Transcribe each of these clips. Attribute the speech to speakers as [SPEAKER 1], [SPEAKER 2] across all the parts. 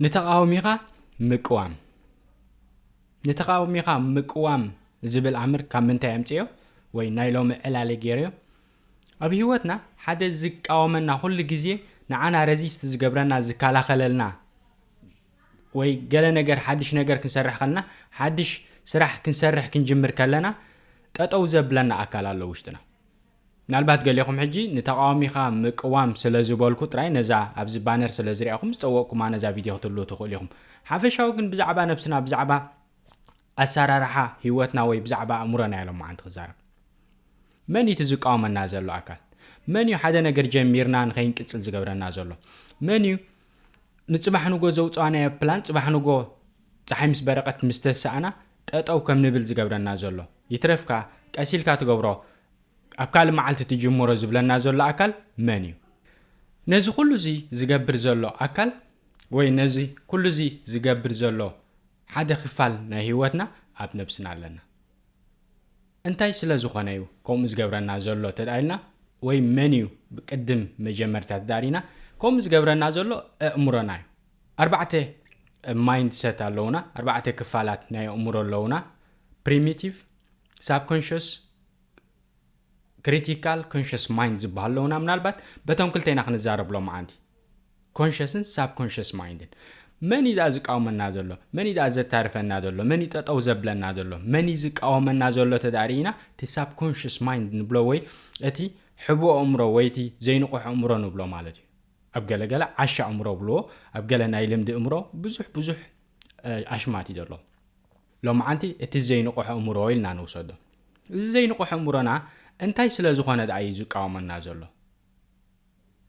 [SPEAKER 1] ንተቓዋሚኻ ምቅዋም ንተቓዋሚኻ ምቅዋም ዝብል ኣምር ካብ ምንታይ ኣምፅዮ ወይ ናይ ሎሚ ዕላለ ገይርዮ ኣብ ህይወትና ሓደ ዝቃወመና ኩሉ ግዜ ንዓና ረዚስት ዝገብረና ዝከላኸለልና ወይ ገለ ነገር ሓድሽ ነገር ክንሰርሕ ከለና ሓድሽ ስራሕ ክንሰርሕ ክንጅምር ከለና ጠጠው ዘብለና ኣካል ኣሎ ውሽጥና ምናልባት ገሌኹም ሕጂ ንተቓዋሚኻ ምቅዋም ስለ ዝበልኩ ጥራይ ነዛ ኣብዚ ባነር ስለ ዝርኣኹም ዝጸወቕኩማ ነዛ ቪድዮ ክትህልዉ ትኽእሉ ኢኹም። ሓፈሻዊ ግን ብዛዕባ ነብስና ብዛዕባ ኣሰራርሓ ህይወትና ወይ ብዛዕባ ኣእምሮና ኢየ ሎምዓንቲ ክዛረብ። መን ኢዩ እቲ ዝቃወመና ዘሎ ኣካል? መን ኢዩ ሓደ ነገር ጀሚርና ንኸይንቅጽል ዝገብረና ዘሎ? መን ኢዩ ንጽባሕ ንጎ ዘውጻናዮ ፕላን ጽባሕ ንጎ ጸሓይ ምስ በረቐት ምስ ተሳእና ጠጠው ከም ንብል ዝገብረና ዘሎ? ይትረፍካ ቀስ ኢልካ ትገብሮ ኣብ ካልእ መዓልቲ ትጅምሮ ዝብለና ዘሎ ኣካል መን እዩ? ነዚ ኩሉ እዚ ዝገብር ዘሎ ኣካል ወይ ነዚ ኩሉ እዚ ዝገብር ዘሎ ሓደ ክፋል ናይ ህይወትና ኣብ ነብስና ኣለና። እንታይ ስለ ዝኾነ እዩ ከምኡ ዝገብረና ዘሎ ተዳኢልና ወይ መን እዩ ቅድም መጀመርታ ተዳሪና ከምኡ ዝገብረና ዘሎ ኣእምሮና እዩ። ኣርባዕተ ማይንድሰት ኣለውና፣ ኣርባዕተ ክፋላት ናይ ኣእምሮ ኣለውና፣ ፕሪሚቲቭ፣ ሳብኮንሸስ ክሪቲካል ኮንሸስ ማይንድ ዝበሃሉ ኣለውና ምናልባት በቶም ክልተ ኢና ክንዛረብ ሎመዓንቲ ኮንሸስን ሳብኮንሸስ ማይንድን መን እዩ ደኣ ዝቃወመና ዘሎ መን እዩ ደኣ ዘታርፈና ዘሎ መን እዩ ጠጠው ዘብለና ዘሎ መን እዩ ዝቃወመና ዘሎ ተዳሪኢና እቲ ሳብ ኮንሽስ ማይንድ ንብሎ ወይ እቲ ሕቦ ኣእምሮ ወይ እቲ ዘይንቑሕ ኣእምሮ ንብሎ ማለት እዩ ኣብ ገለገለ ዓሻ ኣእምሮ ብልዎ ኣብ ገለ ናይ ልምዲ እምሮ ብዙሕ ብዙሕ ኣሽማት እዩ ዘሎ ሎምዓንቲ እቲ ዘይንቑሕ ኣእምሮ ኢልና ንውሰዶ። እዚ ዘይንቑሕ ኣእምሮና እንታይ ስለ ዝኾነ ደኣ እዩ ዝቃወመና ዘሎ?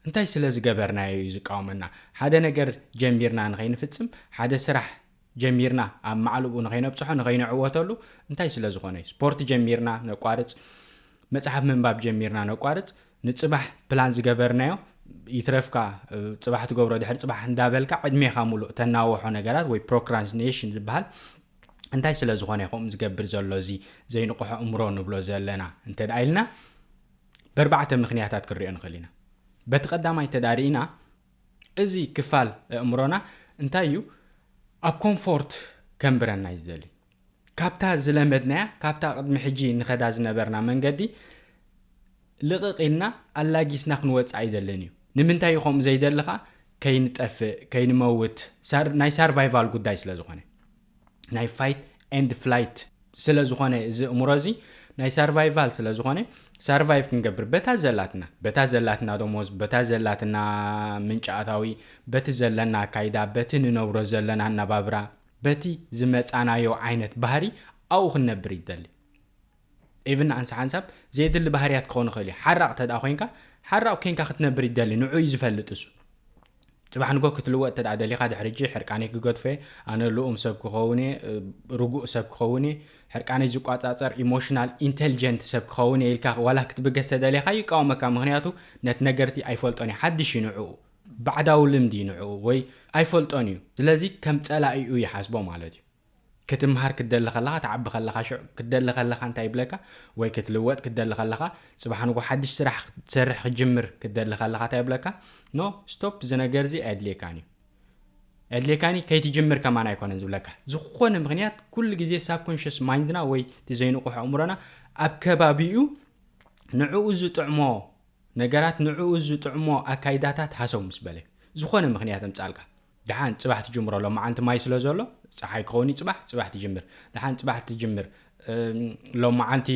[SPEAKER 1] እንታይ ስለ ዝገበርናዮ እዩ ዝቃወመና? ሓደ ነገር ጀሚርና ንኸይንፍጽም፣ ሓደ ስራሕ ጀሚርና ኣብ ማዕልኡ ንኸይነብጽሖ፣ ንኸይንዕወተሉ፣ እንታይ ስለ ዝኾነ እዩ? ስፖርት ጀሚርና ነቋርጽ፣ መጽሓፍ ምንባብ ጀሚርና ነቋርጽ፣ ንጽባሕ ፕላን ዝገበርናዮ ይትረፍካ ጽባሕ ትገብሮ ድሕሪ ጽባሕ እንዳበልካ ዕድሜኻ ሙሉእ ተናወሖ ነገራት ወይ ፕሮክራስቲኔሽን ዝበሃል እንታይ ስለ ዝኾነ ከምኡ ዝገብር ዘሎ እዚ ዘይንቕሖ እምሮ ንብሎ ዘለና እንተ ኢልና በርባዕተ ምክንያታት ክንሪኦ ንኽእል ኢና በቲ ቀዳማይ ተዳሪእና እዚ ክፋል እእምሮና እንታይ እዩ ኣብ ኮምፎርት ከንብረና እዩ ዝደሊ ካብታ ዝለመድናያ ካብታ ቅድሚ ሕጂ ንኸዳ ዝነበርና መንገዲ ልቕቕ ኢልና ኣላጊስና ክንወጽእ ኣይደልን እዩ። ንምንታይ እዩ ከምኡ ዘይደሊ ከኣ ከይንጠፍእ ከይንመውት ሳር ናይ ሳርቫይቫል ጉዳይ ስለ ዝኾነ ናይ ፋይት ኤንድ ፍላይት ስለ ዝኾነ እዚ እምሮ እዚ ናይ ሳርቫይቫል ስለ ዝኾነ ሳርቫይቭ ክንገብር በታ ዘላትና በታ ዘላትና ደሞዝ በታ ዘላትና ምንጪ ኣታዊ በቲ ዘለና ኣካይዳ በቲ ንነብሮ ዘለና ኣነባብራ በቲ ዝመጻናዮ ዓይነት ባህሪ ኣብኡ ክንነብር ይደሊ ኢቭን ንኣንሳ ሓንሳብ ዘየድሊ ባህርያት ክኾን ይኽእል እዩ ሓራቕ ተድኣ ኮንካ ሓራቕ ኮንካ ክትነብር ይደሊ ንዑ እዩ ዝፈልጥ እሱ ጽባሕ ንጎ ክትልወጥ ተድኣ ደሊኻ ድሕርጂ ሕርቃነይ ክገድፎ እየ ኣነ ልኡም ሰብ ክኸውን እየ ርጉእ ሰብ ክኸውን እየ ሕርቃነይ ዝቋጻጸር ኢሞሽናል ኢንተልጀንት ሰብ ክኸውን እየ ኢልካ ዋላ ክትብገስ ተደሊኻ ይቃወመካ ምክንያቱ ነቲ ነገርቲ ኣይፈልጦን እዩ ሓድሽ እዩ ንዕኡ ባዕዳዊ ልምዲ ንዕኡ ወይ ኣይፈልጦን እዩ ስለዚ ከም ጸላኢኡ ይሓስቦ ማለት እዩ። ክትምሃር ክትደሊ ከለኻ ትዓቢ ከለኻ ሽዑ ክትደሊ ከለኻ እንታይ ይብለካ ወይ ክትልወጥ ክትደሊ ከለኻ ጽባሕ ንግሆ ሓድሽ ስራሕ ክትሰርሕ ክትጅምር ክትደሊ ከለኻ እንታይ ይብለካ no stop እዚ ነገር እዚ ኣየድልየካን እዩ ኣየድልየካን እዩ ከይትጅምር ከማን ኣይኮነን ዝብለካ ዝኾነ ምኽንያት ኩሉ ግዜ ሳብኮንሽስ ማይንድና ወይ እቲ ዘይንቑሕ ኣእምሮና ኣብ ከባቢኡ ንዕኡ ዝጥዕሞ ነገራት ንዕኡ ዝጥዕሞ ኣካይዳታት ሃሰው ምስ በለ። ዝኾነ ምኽንያት ኣምጻልካ። ደሓን ጽባሕ ትጅምሮ ሎምዓንቲ ማይ ስለ ዘሎ ጸሓይ ክኸውን እዩ ጽባሕ ጽባሕ ትጅምር። ደሓን ጽባሕ ትጅምር ሎምዓንቲ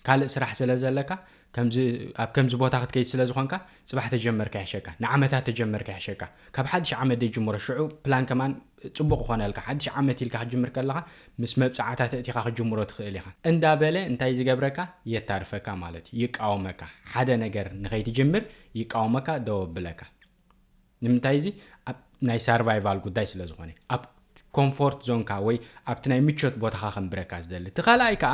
[SPEAKER 1] ካልእ ስራሕ ስለ ዘለካ ከምዚ ኣብ ከምዚ ቦታ ክትከይድ ስለ ዝኾንካ ጽባሕ ተጀመርካ ይሕሸካ ንዓመታት ተጀመርካ ይሕሸካ ካብ ሓድሽ ዓመት ደጅምሮ ሽዑ ፕላን ከማን ጽቡቕ ክኾነልካ፣ ሓድሽ ዓመት ኢልካ ክትጅምር ከለኻ ምስ መብጽዓታት ኣእቲኻ ክትጅምሮ ትኽእል ኢኻ። እንዳ በለ እንታይ ዝገብረካ የታርፈካ ማለት እዩ፣ ይቃወመካ። ሓደ ነገር ንኸይትጅምር ይቃወመካ፣ ደው ኣብለካ። ንምንታይ እዚ ኣብ ናይ ሳርቫይቫል ጉዳይ ስለ ዝኾነ፣ ኣብ ኮንፎርት ዞንካ ወይ ኣብቲ ናይ ምቾት ቦታኻ ከንብረካ ዝደሊ። እቲ ካልኣይ ከኣ።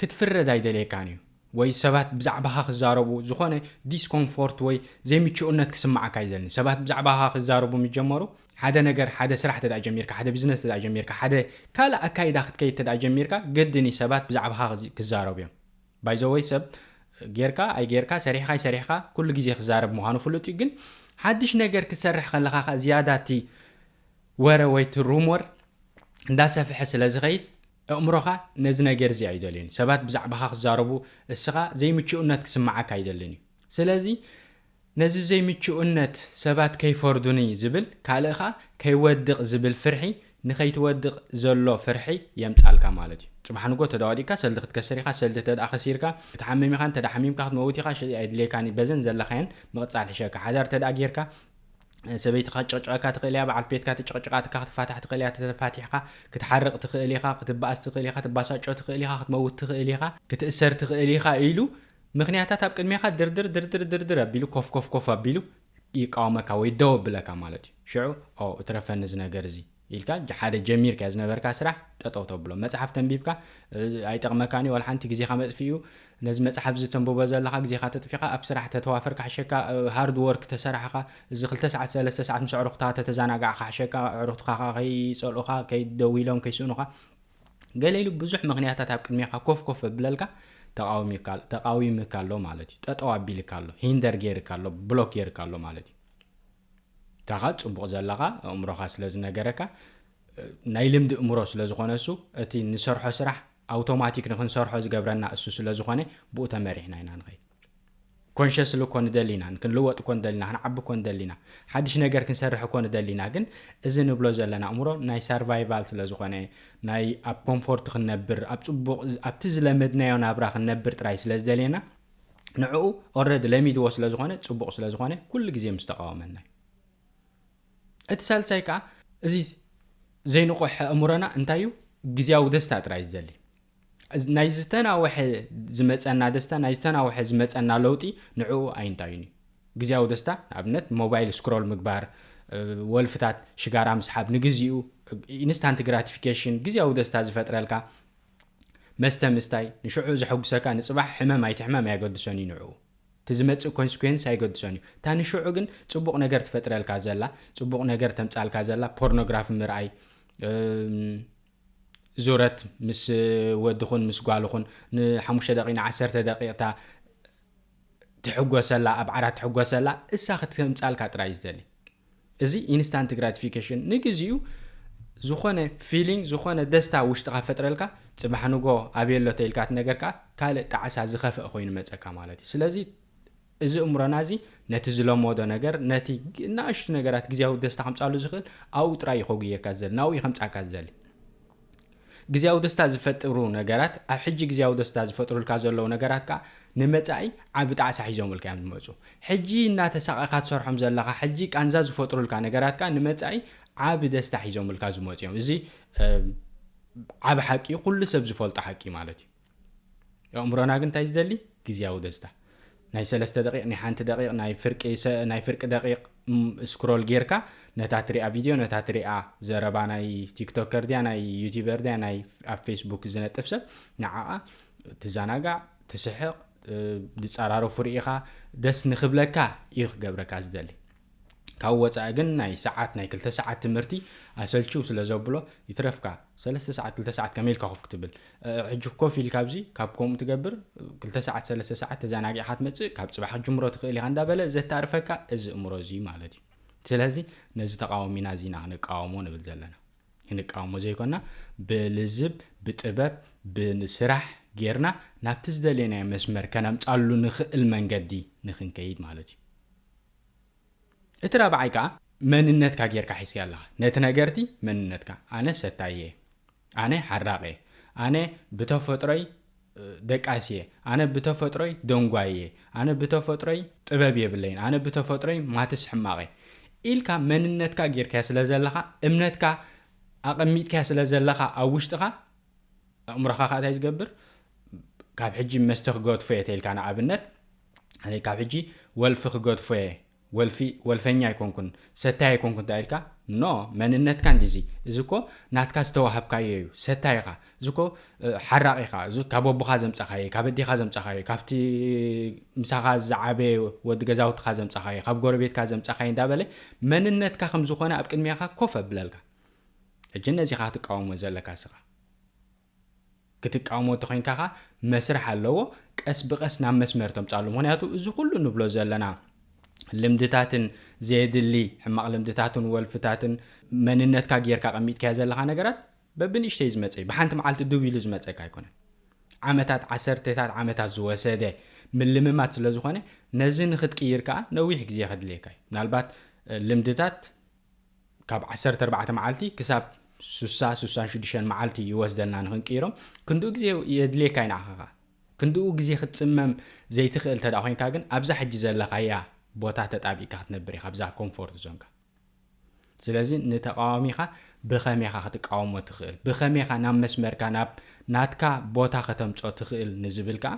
[SPEAKER 1] ክትፍረድ ኣይደልየካን እዩ ወይ ሰባት ብዛዕባኻ ክዛረቡ ዝኾነ ዲስኮምፎርት ወይ ዘይምቹእነት ክስምዓካ ኣይደልን። ሰባት ብዛዕባኻ ክዛረቡ ምስ ጀመሩ ሓደ ነገር ሓደ ስራሕ እንተድኣ ጀሚርካ፣ ሓደ ቢዝነስ እንተድኣ ጀሚርካ፣ ሓደ ካልእ ኣካይዳ ክትከይድ እንተድኣ ጀሚርካ ግድን እዩ ሰባት ብዛዕባኻ ክዛረቡ እዮም። ባይ ዘ ወይ ሰብ ጌርካ ኣይጌርካ ሰሪሕካ ኣይሰሪሕካ ኩሉ ግዜ ክዛረብ ምዃኑ ፍሉጥ እዩ ግን ሓድሽ ነገር ክትሰርሕ ከለኻ ከኣ ዝያዳ እቲ ወረ ወይ እቲ ሩሞር እንዳሰፍሐ ስለ ዝኸይድ እእምሮኻ ነዚ ነገር እዚ ኣይደልዮን እዩ። ሰባት ብዛዕባኻ ክዛረቡ እስኻ ዘይምቹእነት ክስምዓካ ኣይደልን እዩ። ስለዚ ነዚ ዘይምቹእነት ሰባት ከይፈርዱኒ ዝብል ካልእ ከኣ ከይወድቕ ዝብል ፍርሒ ንኸይትወድቕ ዘሎ ፍርሒ የምጻልካ ማለት እዩ። ጽባሕ ንግሆ ተዳ ወዲቕካ ሰልዲ ክትከስር ኢኻ ሰልዲ ተድኣ ከሲርካ ክትሓምም ኢኻ እንተድኣ ሓሚምካ ክትመውት ኢኻ ሽዕይ ኣይድልየካን እዩ በዘን ዘለኻየን ምቕጻል ሕሸካ ሓዳር ተድኣ ጌርካ ሰበይትኻ ክትጭቕጭቐካ ትኽእል እያ፣ በዓልቲ ቤትካ ተጨቕጭቓትካ ክትፋታሕ ትኽእል እያ፣ ተፋቲሕካ ክትሓርቕ ትኽእል ኢኻ፣ ክትበኣስ ትኽእል ኢኻ፣ ትባሳጮ ትኽእል ኢኻ፣ ክትመውት ትኽእል ኢኻ፣ ክትእሰር ትኽእል ኢኻ ኢሉ ምኽንያታት ኣብ ቅድሜኻ ድርድር ድርድር ድርድር ኣቢሉ ኮፍ ኮፍ ኮፍ ኣቢሉ ይቃወመካ ወይ ደው ኣብለካ ማለት እዩ። ሽዑ ኦ እትረፈኒ እዚ ነገር እዚ! ኢልካ ሓደ ጀሚርካዮ ዝነበርካ ስራሕ ጠጠው ተብሎ መጽሓፍ ተንቢብካ ኣይጠቅመካን እዩ ዋላሓንቲ ግዜካ መጥፍኢ እዩ ነዚ መጽሓፍ እዚ ተንብቦ ዘለካ ግዜካ ተጥፊካ ኣብ ስራሕ ተተዋፈር ካሕሸካ ሃርድ ወርክ ተሰራሕካ እዚ ክልተ ሰዓት ሰለስተ ሰዓት ምስ ኣዕሩክትካ ተተዛናጋዕ ካሕሸካ ኣዕሩክትካ ከኣ ከይጸልኡካ ከይ ደዊሎም ከይስእኑካ ገለ ኢሉ ብዙሕ ምክንያታት ኣብ ቅድሜካ ኮፍ ኮፍ ኣብለልካ ተቃዊሚካ ተቃዊምካ ኣሎ ማለት እዩ ጠጠው ኣቢልካ ኣሎ ሂንደር ጌርካ ኣሎ ብሎክ ጌርካ ኣሎ ማለት እዩ ካኻ ጽቡቕ ዘለኻ ኣእምሮኻ ስለ ዝነገረካ ናይ ልምዲ እእምሮ ስለ ዝኾነ እሱ እቲ ንሰርሖ ስራሕ ኣውቶማቲክ ንክንሰርሖ ዝገብረና እሱ ስለ ዝኾነ ብኡ ተመሪሕና ኢና ንኸይድ ኮንሸስሊ እኮ ንደሊ ኢና ክንልወጥ እኮ ንደሊና ክንዓቢ እኮ ንደሊና ሓድሽ ነገር ክንሰርሕ እኮ ንደሊና ግን እዚ ንብሎ ዘለና እምሮ ናይ ሰርቫይቫል ስለ ዝኾነ ናይ ኣብ ኮምፎርት ክንነብር ኣብ ፅቡቕ ኣብቲ ዝለመድናዮ ናብራ ክንነብር ጥራይ ስለ ዝደልየና ንዕኡ ኦረዲ ለሚድዎ ስለ ዝኾነ ፅቡቕ ስለ ዝኾነ ኩሉ ግዜ ምስ ተቃወመና እዩ እቲ ሳልሳይ ከዓ እዚ ዘይንቑሕ ኣእምሮና እንታይ እዩ ግዜያዊ ደስታ ጥራይ ዝደሊ ናይ ዝተናውሐ ዝመፀና ደስታ ናይ ዝተናውሐ ዝመፀና ለውጢ ንዕኡ ኣይንታዩን እዩ ግዜያዊ ደስታ ንኣብነት ሞባይል ስክሮል ምግባር ወልፍታት ሽጋራ ምስሓብ ንግዜኡ ኢንስታንት ግራቲፊኬሽን ግዜያዊ ደስታ ዝፈጥረልካ መስተ ምስታይ ንሽዑ ዘሐጉሰካ ንጽባሕ ሕመም ኣይትሕመም ኣየገድሶን እዩ ንዕኡ እቲ ዝመጽእ ኮንስኩዌንስ ኣይገድሶን እዩ እታ ንሽዑ ግን ጽቡቅ ነገር ትፈጥረልካ ዘላ ጽቡቅ ነገር ተምጻልካ ዘላ ፖርኖግራፊ ምርኣይ ዙረት ምስ ወድኹን ምስ ጓልኹን ንሓሙሽተ ደቂቅ ንዓሰርተ ደቂቅ እታ ትሕጎሰላ ኣብ ዓራት ትሕጎሰላ እሳ ክትምጻልካ ጥራይ ዝደሊ እዚ ኢንስታንት ግራቲፊኬሽን ንግዚኡ ዝኾነ ፊሊንግ ዝኾነ ደስታ ውሽጥኻ ፈጥረልካ ጽባሕ ንጎ ኣብየሎ ተኢልካ እቲ ነገር ከኣ ካልእ ጣዕሳ ዝኸፍአ ኮይኑ መጸካ ማለት እዩ ስለዚ እዚ እምሮና እዚ ነቲ ዝለመዶ ነገር ነቲ ናእሽቱ ነገራት ግዜያዊ ደስታ ከምጻሉ ዝኽእል ኣብኡ ጥራይ እዩ ከጉየካ ዝደሊ ናብኡ እዩ ከምጻካ ዝደሊ ግዝያዊ ደስታ ዝፈጥሩ ነገራት ኣብ ሕጂ ግዝያዊ ደስታ ዝፈጥሩልካ ዘለዉ ነገራት ከኣ ንመጻኢ ዓቢ ጣዕሳ ሒዞምልካ እዮም ዝመጹ። ሕጂ እናተሳቐኻ ትሰርሖም ዘለኻ ሕጂ ቃንዛ ዝፈጥሩልካ ነገራት ከኣ ንመጻኢ ዓቢ ደስታ ሒዞምልካ ዝመጹ እዮም። እዚ ዓቢ ሓቂ እዩ ኩሉ ሰብ ዝፈልጦ ሓቂ ማለት እዩ። ኣእምሮና ግን እንታይ ዝደሊ ግዝያዊ ደስታ ናይ ሰለስተ ደቂቅ ናይ ሓንቲ ደቂቅ ናይ ፍርቂ ናይ ፍርቂ ደቂቅ ስክሮል ጌርካ ነታ ትሪኣ ቪድዮ ነታ ትሪኣ ዘረባ ናይ ቲክቶከር ድያ ናይ ዩቲበር ድያ ናይ ኣብ ፌስቡክ ዝነጥፍ ሰብ ንዓኣ ትዘናጋዕ ትስሕቕ ዝፀራረፉ ርኢኻ ደስ ንክብለካ እዩ ክገብረካ ዝደሊ ካብኡ ወጻኢ ግን ናይ ሰዓት ናይ ክልተ ሰዓት ትምህርቲ ኣሰልችው ስለ ዘብሎ ይትረፍካ ሰለስተ ሰዓት ክልተ ሰዓት ከመይ ኢልካ ኮፍ ክትብል ሕጂ ኮፍ ኢልካ ኣብዚ ካብ ከምኡ ትገብር ክልተ ሰዓት ሰለስተ ሰዓት ተዘናጊዕካ ትመጽእ ካብ ጽባሕ ክትጅምሮ ትኽእል ኢኻ እንዳበለ ዘታርፈካ እዚ እምሮ እዚ ማለት እዩ ስለዚ ነዚ ተቃወሚና እዚ ኢና ክንቃወሞ ንብል ዘለና ክንቃወሞ ዘይኮና ብልዝብ ብጥበብ ብስራሕ ጌርና ናብቲ ዝደለየናዮ መስመር ከነምጻሉ ንኽእል መንገዲ ንክንከይድ ማለት እዩ እቲ ራብዓይ ከኣ መንነትካ ጌርካ ሒዝካዮ ኣለኻ ነቲ ነገር'ቲ መንነትካ ኣነ ሰታይ'የ ኣነ ሓራቕ'የ ኣነ ብተፈጥሮይ ደቃስ'የ ኣነ ብተፈጥሮይ ደንጓይ'የ ኣነ ብተፈጥሮይ ጥበብ የብለይን ኣነ ብተፈጥሮይ ማትስ ሕማቕ'የ ኢልካ መንነትካ ጌርካዮ ስለ ዘለኻ እምነትካ ኣቐሚጥካዮ ስለ ዘለኻ ኣብ ውሽጥኻ ኣእምሮኻ ከኣ እንታይ ዝገብር ካብ ሕጂ መስተ ክገድፎ'የ ተይልካ ንኣብነት ኣነ ካብ ሕጂ ወልፊ ክገድፎ'የ ወልፊ ወልፈኛ ኣይኮንኩን ሰታይ ኣይኮንኩን እንተኢልካ ን መንነትካ እንድዩ እዚ እዚ እኮ ናትካ ዝተዋሃብካዮ እዩ ሰታይ ኢኻ እዚ እኮ ሓራቒ ኢኻ እዚ ካብ ኣቦኻ ዘምጻኻዮ ካብ ኣዴኻ ዘምጻኻዮ ካብቲ ምሳኻ ዝዓበየ ወዲ ገዛውትኻ ዘምጻኻዮ ካብ ጎረቤትካ ዘምጻኻዮ እንዳበለ መንነትካ ከም ዝኾነ ኣብ ቅድሚኻ ኮፍ ኣብለልካ ሕጂ ነዚኻ ክትቃወሞ ዘለካ ስኻ ክትቃወሞ እንተኮይንካ ከኣ መስርሕ ኣለዎ ቀስ ብቀስ ናብ መስመር ተምጻሉ ምክንያቱ እዚ ኩሉ ንብሎ ዘለና ልምድታትን ዘየድሊ ሕማቅ ልምድታትን ወልፍታትን መንነትካ ጌርካ ኣቀሚጥካዮ ዘለካ ነገራት በብንእሽተይ ዝመጸ እዩ ብሓንቲ መዓልቲ ድው ኢሉ ዝመጸካ ኣይኮነን ዓመታት ዓሰርተታት ዓመታት ዝወሰደ ምልምማት ስለ ዝኮነ ነዚ ንክትቅይር ከኣ ነዊሕ ግዜ ከድልየካ እዩ ምናልባት ልምድታት ካብ ዓሰርተ ኣርባዕተ መዓልቲ ክሳብ ሱሳ ሱሳን ሽዱሽተን መዓልቲ ይወስደና ንክንቅይሮም ክንድኡ ግዜ የድልየካ ዩ ንዓኻኻ ክንድኡ ግዜ ክትጽመም ዘይትኽእል እንተ ኮይንካ ግን ኣብዛ ሕጂ ዘለኻያ ቦታ ተጣቢቅካ ክትነብር ኢኻ ኣብዛ ኮምፎርት ዞንካ ስለዚ ንተቃዋሚኻ ብኸመይ ኢኻ ክትቃወሞ ትኽእል ብኸመይ ኢኻ ናብ መስመርካ ናብ ናትካ ቦታ ከተምጾ ትኽእል ንዝብል ከኣ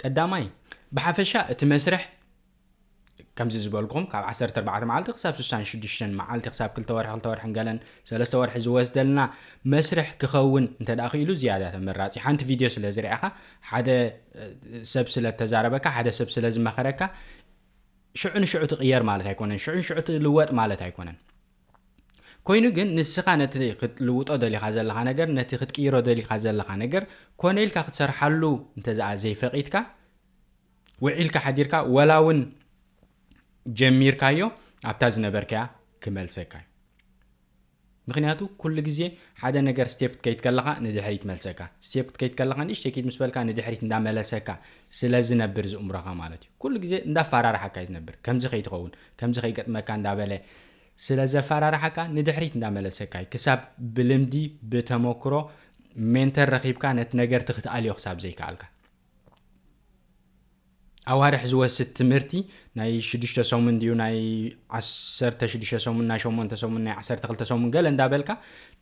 [SPEAKER 1] ቀዳማይ ብሓፈሻ እቲ መስርሕ ከምዚ ዝበልኩም ካብ ዓሰርተ ኣርባዕተ መዓልቲ ክሳብ ስሳን ሽዱሽተን መዓልቲ ክሳብ ክልተ ወርሒ ክልተ ወርሕን ገለን ሰለስተ ወርሒ ዝወስደልና መስርሕ ክኸውን እንተ ክኢሉ ዝያዳ ተመራጺ ሓንቲ ቪድዮ ስለ ዝርኣኻ ሓደ ሰብ ስለ ተዛረበካ ሓደ ሰብ ስለ ዝመኸረካ ሽዑ ንሽዑ ትቕየር ማለት ኣይኮነን ሽዑ ንሽዑ ትልወጥ ማለት ኣይኮነን ኮይኑ ግን ንስኻ ነቲ ክትልውጦ ደሊኻ ዘለኻ ነገር ነቲ ክትቅይሮ ደሊኻ ዘለኻ ነገር ኮነ ኢልካ ክትሰርሓሉ እንተዘኣ ዘይፈቒድካ ውዒልካ ሓዲርካ ወላ ውን ጀሚርካዮ ኣብታ ዝነበርካያ ክመልሰካ ዩ ምክንያቱ ኩሉ ግዜ ሓደ ነገር ስቴፕ ክትከይድ ከለካ ንድሕሪት መልሰካ ስቴፕ ክትከይድ ከለካ ንእሽተይ ኪድ ምስ በልካ ንድሕሪት እንዳመለሰካ ስለ ዝነብር ዝእምሮካ ማለት ዩ ኩሉ ግዜ እንዳፋራርሓካ ዩ ዝነብር ከምዚ ከይትከውን ከምዚ ከይገጥመካ እንዳበለ ስለ ዘፋራርሓካ ንድሕሪት እንዳመለሰካ ዩ ክሳብ ብልምዲ ብተመክሮ ሜንተር ረኪብካ ነቲ ነገርት ክትኣልዮ ክሳብ ዘይከኣልካ። ኣዋርሕ ዝወስድ ትምህርቲ ናይ ሽዱሽተ ሰሙን ድዩ ናይ ዓሰርተ ሽዱሽተ ሰሙን ናይ ሸሞንተ ሰሙን ናይ ዓሰርተ ክልተ ሰሙን ገለ እንዳበልካ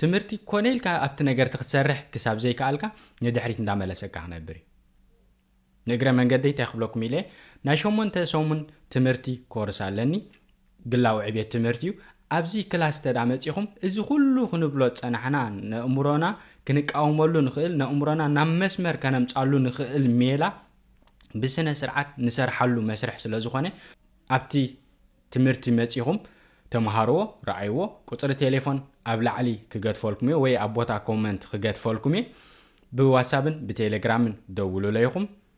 [SPEAKER 1] ትምህርቲ ኮነ ኢልካ ኣብቲ ነገርቲ ክትሰርሕ ክሳብ ዘይከኣልካ ንድሕሪት እንዳመለሰካ ክነብር እዩ ንእግረ መንገዲ እንታይ ክብለኩም ኢለ ናይ ሸሞንተ ሰሙን ትምህርቲ ኮርስ ኣለኒ ግላዊ ዕብየት ትምህርቲ'ዩ። ኣብዚ ክላስ እንተድኣ መጺኹም እዚ ኩሉ ክንብሎ ዝጸናሕና ነእምሮና ክንቃወመሉ ንኽእል፣ ነእምሮና ናብ መስመር ከነምጻሉ ንኽእል ሜላ ብስነ ስርዓት ንሰርሓሉ መስርሕ ስለ ዝኾነ ኣብቲ ትምህርቲ መጺኹም ተመሃርዎ፣ ረኣይዎ። ቁጽሪ ቴሌፎን ኣብ ላዕሊ ክገድፈልኩም'የ ወይ ኣብ ቦታ ኮመንት ክገድፈልኩም'የ። ብዋትሳብን ብቴሌግራምን ደውሉለይኹም።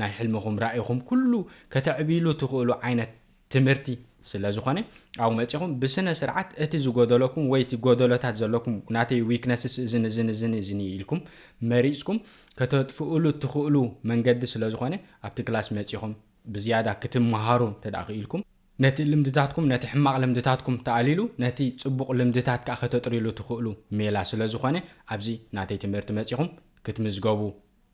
[SPEAKER 1] ናይ ሕልምኹም ራኢኹም ኩሉ ከተዕብይሉ ትኽእሉ ዓይነት ትምህርቲ ስለ ዝኾነ ኣብኡ መጺኹም ብስነ ስርዓት እቲ ዝጎደለኩም ወይ እቲ ጎደሎታት ዘለኩም ናተይ ዊክነስስ እዝን እዝን እዝን እዝን እዩ ኢልኩም መሪጽኩም ከተጥፍእሉ ትኽእሉ መንገዲ ስለ ዝኾነ ኣብቲ ክላስ መጺኹም ብዝያዳ ክትመሃሩ እንተ ክኢልኩም ነቲ ልምድታትኩም ነቲ ሕማቕ ልምድታትኩም ተኣሊሉ ነቲ ጽቡቕ ልምድታት ከኣ ከተጥርይሉ ትኽእሉ ሜላ ስለ ዝኾነ ኣብዚ ናተይ ትምህርቲ መጺኹም ክትምዝገቡ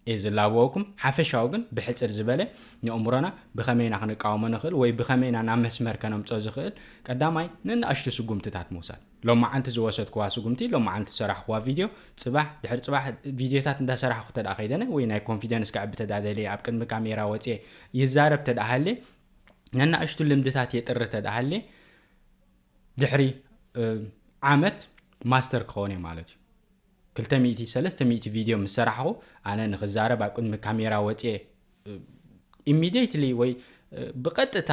[SPEAKER 1] እየ ዝላበወኩም። ሓፈሻዊ ግን ብሕጽር ዝበለ ንእምሮና ብኸመይ ኢና ክንቃወሞ ንኽእል ወይ ብኸመይ ኢና ናብ መስመር ከነምጽኦ ዝኽእል ቀዳማይ ንናእሽቱ ስጉምትታት ምውሳድ። ሎማዓንቲ ዝወሰድኩዋ ስጉምቲ ሎማዓንቲ ዝሰራሕኹዋ ቪድዮ ጽባሕ ድሕሪ ጽባሕ ቪድዮታት እንዳሰራሕኹ ተድኣ ከይደነ ወይ ናይ ኮንፊደንስ ከዕቢ ተድኣ ደልየ ኣብ ቅድሚ ካሜራ ወጽየ ይዛረብ ተድኣ ሃልየ ነናእሽቱ ልምድታት የጥሪ ተድኣ ሃልየ ድሕሪ ዓመት ማስተር ክኸውን እየ ማለት እዩ። ክልተ ሚእቲ ሰለስተ ሚእቲ ቪድዮ ምስ ሰራሕኹ ኣነ ንኽዛረብ ኣብ ቅድሚ ካሜራ ወጽየ ኢሚዴትሊ ወይ ብቐጥታ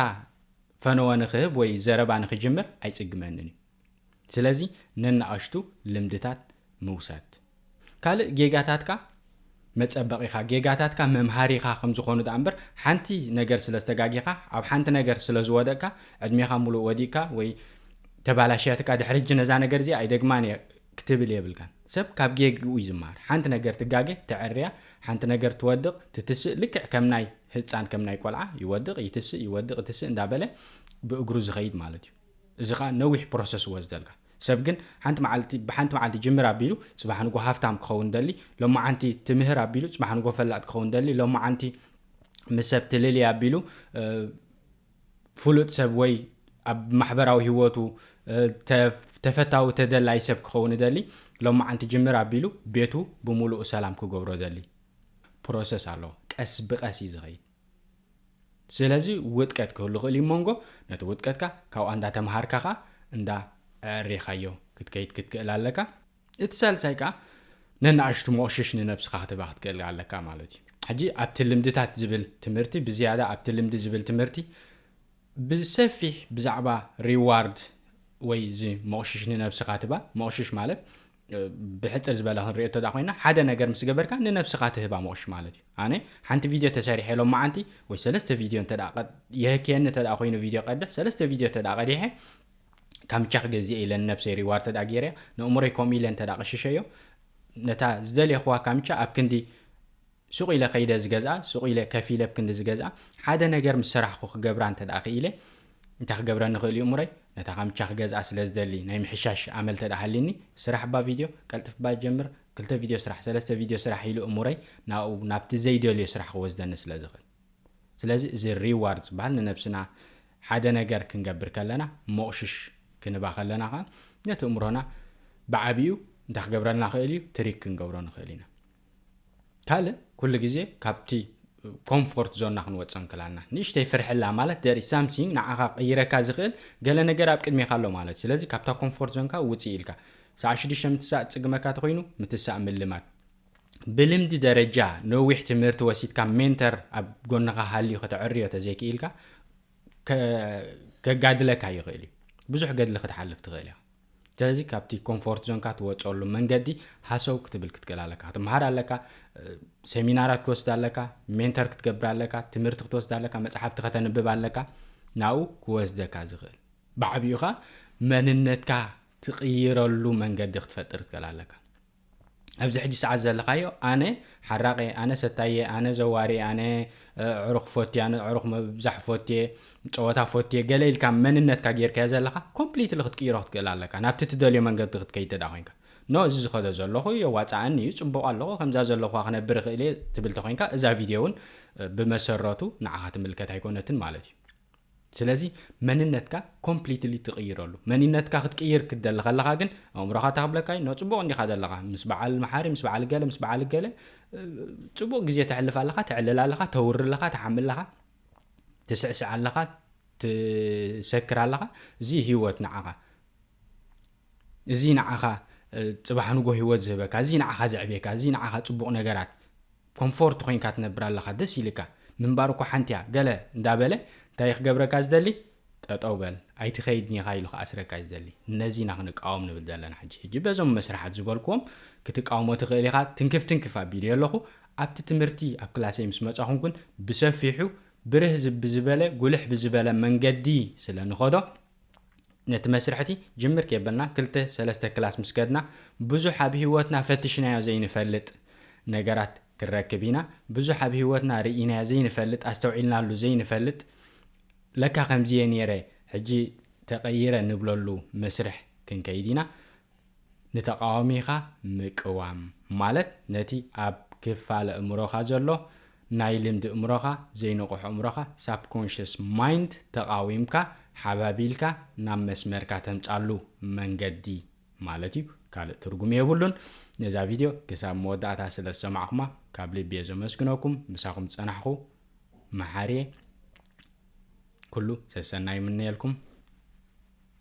[SPEAKER 1] ፈነወ ንኽህብ ወይ ዘረባ ንኽጅምር ኣይጽግመንን እዩ። ስለዚ ነናኣሽቱ ልምድታት ምውሳድ። ካልእ ጌጋታትካ መጸበቒኻ፣ ጌጋታትካ መምሃሪኻ ከም ዝኾኑ ደኣ እምበር ሓንቲ ነገር ስለ ዝተጋጊኻ፣ ኣብ ሓንቲ ነገር ስለ ዝወደቕካ ዕድሜኻ ምሉእ ወዲቕካ ወይ ተባላሽያትካ ድሕሪ ሕጂ ነዛ ነገር እዚኣ ኣይደግማን እየ ክትብል የብልካን ሰብ ካብ ጌግኡ እዩ ዝማሃር ሓንቲ ነገር ትጋገ ተዐርያ ሓንቲ ነገር ትወድቅ ትትስእ ልክዕ ከም ናይ ህጻን ከም ናይ ቆልዓ ይወድቅ ይትስእ ይወድቅ ይትስእ እንዳ በለ ብእግሩ ዝከይድ ማለት እዩ እዚ ከኣ ነዊሕ ፕሮሰስ ይወስደልካ ሰብ ግን ሓንቲ መዓልቲ ብሓንቲ መዓልቲ ጅምር ኣቢሉ ጽባሕ ንግሆ ሃፍታም ክከውን ደሊ ሎማዓንቲ ትምህር ኣቢሉ ጽባሕ ንግሆ ፈላጥ ክከውን ደሊ ሎማዓንቲ ምስ ሰብ ትልልይ ኣቢሉ ፍሉጥ ሰብ ወይ ኣብ ማሕበራዊ ህይወቱ ተፈታዊ ተደላዪ ሰብ ክኸውን እደሊ ሎማዓንቲ ጅምር ኣቢሉ ቤቱ ብሙሉኡ ሰላም ክገብሮ እደሊ ፕሮሰስ ኣሎ ቀስ ብቀስ እዩ ዝኸይድ ስለዚ ውጥቀት ክህሉ ይኽእል እዩ ሞንጎ ነቲ ውጥቀትካ ካብኣ እንዳተማሃርካ ከኣ እንዳ ኣዕሪኻዮ ክትከይድ ክትክእል ኣለካ። እቲ ሳልሳይ ከኣ ነንኣሽቱ ሞቕሽሽ ንነብስኻ ክትህባ ክትክእል ኣለካ ማለት እዩ። ሕጂ ኣብቲ ልምድታት ዝብል ትምህርቲ ብዝያዳ ኣብቲ ልምዲ ዝብል ትምህርቲ ብሰፊሕ ብዛዕባ reward ወይ እዚ ሞቕሽሽ ንነብስኻ ትህባ ሞቕሽሽ ማለት ብሕጽር ዝበለ ክንሪኦ እተዳ ኮይና ሓደ ነገር ምስ ገበርካ ንነብስኻ ትህባ ሞቕሽሽ ማለት እዩ። ኣነ ሓንቲ ቪድዮ ተሰሪሐ ሎማዓንቲ ወይ ሰለስተ ቪድዮ እንተ የህክየኒ እተ ኮይኑ ቪድዮ ቀድሕ ሰለስተ ቪድዮ እተ ቀዲሐ ካምቻ ክገዝእ ኢለ ንነብሰይ ሪዋርድ ተድኣ ጌረያ ነእምሮይ ከምኡ ኢለ እንተድኣ ኣቕሽሸዮ ነታ ዝደሌኹዋ ካምቻ ኣብ ክንዲ ሱቕ ኢለ ከይደ ዝገዝኣ ሱቕ ኢለ ከፊለ ብ ክንዲ ዝገዝኣ ሓደ ነገር ምስ ሰራሕኩ ክገብራ እንተድኣ ክኢለ እንታይ ክገብረኒ ይኽእል እዩ እምሮይ ነታ ካምቻ ክገዝኣ ስለ ዝደሊ ናይ ምሕሻሽ ኣመል ተድኣ ሃልዩኒ ስራሕ ባ ቪድዮ ቀልጥፍ ባ ጀምር ክልተ ቪድዮ ስራሕ ሰለስተ ቪድዮ ስራሕ ኢሉ እምሮይ ናብኡ ናብቲ ዘይደልዮ ስራሕ ክወስደኒ ስለ ዝኽእል ስለዚ እዚ ሪዋርድ ዝበሃል ንነብስና ሓደ ነገር ክንገብር ከለና ሞቕሽሽ ክንባ ከለና ከኣ ነቲ እምሮና ብዓቢኡ እንታይ ክገብረልና ይኽእል እዩ ትሪክ ክንገብሮ ንኽእል ኢና ካልእ ኩሉ ግዜ ካብቲ ኮምፎርት ዞንና ክንወጽእ እንክላና ንእሽተይ ፍርሕላ ማለት ደሪ ሳምሲንግ ንዓኻ ቀይረካ ዝኽእል ገለ ነገር ኣብ ቅድሜካ ኣሎ ማለት እዩ ስለዚ ካብታ ኮምፎርት ዞንካ ውጽእ ኢልካ ሰዓ ሽዱሽተ ምትሳእ ጽግመካ ተኮይኑ ምትሳእ ምልማድ ብልምዲ ደረጃ ነዊሕ ትምህርቲ ወሲድካ ሜንተር ኣብ ጎንኻ ሃልዩ ከተዕርዮ ተዘይክኢልካ ከጋድለካ ይኽእል እዩ ብዙሕ ገድሊ ክትሓልፍ ትኽእል እያ ስለዚ ካብቲ ኮምፎርት ዞንካ ትወፀሉ መንገዲ ሃሰው ክትብል ክትክእል ኣለካ ክትምሃር ኣለካ ሴሚናራት ክትወስድ ኣለካ ሜንተር ክትገብር ኣለካ ትምህርቲ ክትወስድ ኣለካ መፅሓፍቲ ከተንብብ ኣለካ ናብኡ ክወስደካ ዝኽእል ብዓብኡ ኸ መንነትካ ትቕይረሉ መንገዲ ክትፈጥር ትክእል ኣለካ ኣብዚ ሕጂ ሰዓት ዘለኻዮ ኣነ ሓራቂየ ኣነ ሰታይየ ኣነ ዘዋሪየ ኣነ ዕሩኽ ፎትየ ኣነ ዕሩኽ ምብዛሕ ፎትየ ጸወታ ፎትየ ገለ ኢልካ መንነትካ ጌርካዮ ዘለኻ ኮምፕሊትሊ ክትቅይሮ ክትክእል ኣለካ ናብቲ ትደልዮ መንገዲ ክትከይድ ተዳ ኮንካ ኖ እዚ ዝኸዶ ዘለኹ የዋጻኣኒ እዩ ጽቡቕ ኣለኹ ከምዛ ዘለኹዋ ክነብር ይኽእል እየ ትብል ተኮንካ እዛ ቪድዮ እውን ብመሰረቱ ንዓኻ ትምልከት ኣይኮነትን ማለት እዩ ስለዚ መንነትካ ኮምፕሊትሊ ትቅይረሉ መኒነትካ ክትቅይር ክትደሊ ከለካ ግን ኣእምሮካ እንታይ ክብለካ እዩ ጽቡቅ እንዲካ ዘለካ ምስ በዓል መሓሪ ምስ በዓል ገለ ምስ በዓል ገለ ጽቡቅ ግዜ ተሕልፍ ኣለካ ተዕልል ኣለካ ተውሪ ኣለካ ትሓሚ ኣለካ ትስዕስዕ ኣለካ ትሰክር ኣለካ እዚ ህይወት ንዓካ እዚ ንዓኻ ጽባሕ ንጎህ ህይወት ዝህበካ፣ እዚ ንዓኻ ዘዕብየካ፣ እዚ ንዓኻ ጽቡቕ ነገራት ኮምፎርት ኮይንካ ትነብር ኣለኻ፣ ደስ ኢልካ ምንባር እኮ ሓንቲ እያ ገለ እንዳ በለ እንታይ እዩ ክገብረካ ዝደሊ ጠጠው በል ኣይትኸይድ ኒኻ ኢሉ ክኣስረካ እዩ ዝደሊ። ነዚ ኢና ክንቃወም ንብል ዘለና ሕጂ። ሕጂ በዞም መስርሓት ዝበልክዎም ክትቃወሞ ትኽእል ኢኻ። ትንክፍ ትንክፍ ኣቢለዮ ኣለኹ። ኣብቲ ትምህርቲ ኣብ ክላሰይ ምስ መጻኹም ግን ብሰፊሑ ብርህ ብዝበለ ጉልሕ ብዝበለ መንገዲ ስለ ንኸዶ ነቲ መስርሕ'ቲ ጅምር ኬበልና ክልተ ሰለስተ ክላስ ምስ ከድና፣ ብዙሕ ኣብ ህይወትና ፈቲሽናዮ ዘይንፈልጥ ነገራት ክንረክብ ኢና። ብዙሕ ኣብ ህይወትና ርኢናዮ ዘይንፈልጥ፣ ኣስተውዒልናሉ ዘይንፈልጥ፣ ለካ ከምዚ'የ ነይረ ሕጂ ተቐይረ ንብለሉ መስርሕ ክንከይድ ኢና። ንተቓዋሚኻ ምቅዋም ማለት ነቲ ኣብ ክፋል ኣእምሮኻ ዘሎ ናይ ልምዲ እምሮኻ፣ ዘይንቑሕ እምሮኻ፣ Subconscious Mind፣ ተቓዊምካ፣ ሓባቢልካ፣ ናብ መስመርካ ተምጻሉ መንገዲ ማለት እዩ። ካልእ ትርጉም የብሉን። ነዛ ቪድዮ ክሳብ መወዳእታ ስለ ዝሰማዕኩማ ካብ ልቢ'የ ዘመስግነኩም። ምሳኹም ዝጸናሕኩ መሓሪ'የ። ኩሉ ሰሰናይ ይምነየልኩም።